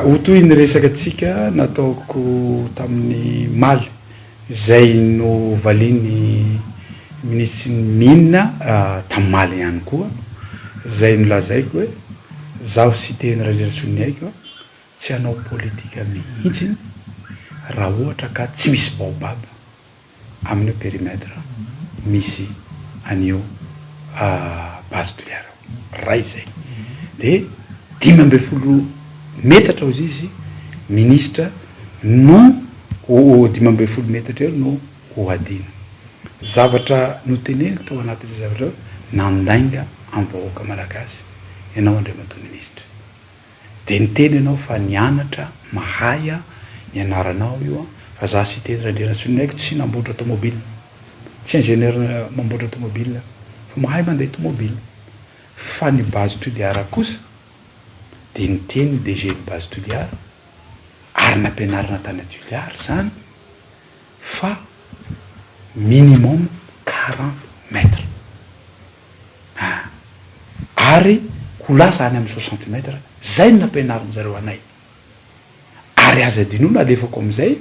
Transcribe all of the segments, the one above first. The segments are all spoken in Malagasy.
Ho toy ny resaka tsika nataoko tamin'ny maly izay novalian'ny minisitry ny mines tamin'ny maly ihany koa izay nolazaiko hoe zaho sy Teny Raliratsoniaiko tsy hanao politika mihitsy raha ohatra ka tsy misy baobab. amin'io périmètre misy an'io base de l'air iray izay. Dia dimy ambin'ny folo metatra hozy izy ministra no dimy ambin'ny folo metatra eo no ho hadino. Zavatra noteneniko tao anatin'izay zavatra izay, nandainga amin'ny vahoaka malagasy ianao Andriamatoa Ministra. Dia niteny ianao fa nianatra, mahay an, ny anaranao io an, fa za Siteny Randrianatsony ny aiko tsy namboatra tomobile, tsy ingénieur mamboatra tomobile aho, fa mahay mandeha tomobile, fa ny base toliara kosa dia niteny ny DG ny base toliara ary nampianarina tany Toliara izany fa minimum quarante mètres. Ah! Ary ho lasa any amin'ny soixante mètres, zay no nampianarin'ny zareo anay. Ary aza adinoina alefako amin'izay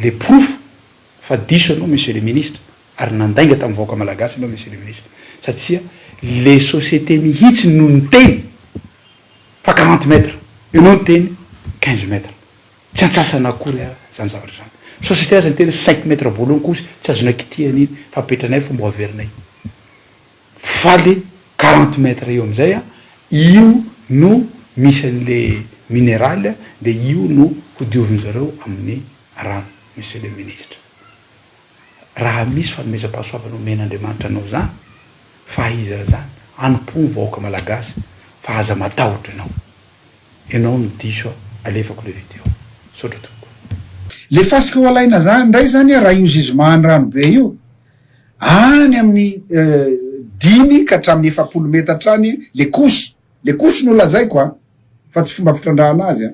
le porofo fa diso ianao Monsieur le Ministre ary nandainga tamin'ny vahoaka Malagasy ianao Monsieur le Ministre satsia le société mihitsy no niteny fa quarante mètres, ianao niteny quinze mètres. Tsy antsasana akory ara izany zavatra izany. Société aza niteny cinq mètres voalohany koa tsy azonay kitihana iny fa apetranay fa mbo averinay. Fa le quarante mètres eo amin'izay an, io no misy an'le mineral dia io no hodiovin zareo amin'ny rano Monsieur le Ministre. Raha misy fanomezam-pahasoavana omen'Andriamanitra anao izany fa ahiza izany, anompoa ny vahoaka Malagasy fa aza matahotra ianao. Enao no diso a! Alefako le video. Misaotra tompoko. Le fasika ho alaina zany ndray zany a raha io Zizma any Ranobe io any amin'ny dimy ka hatramin'ny efapolo metatra any le couche le couche no lazaiko a fa tsy fomba fitrandrahana azy a.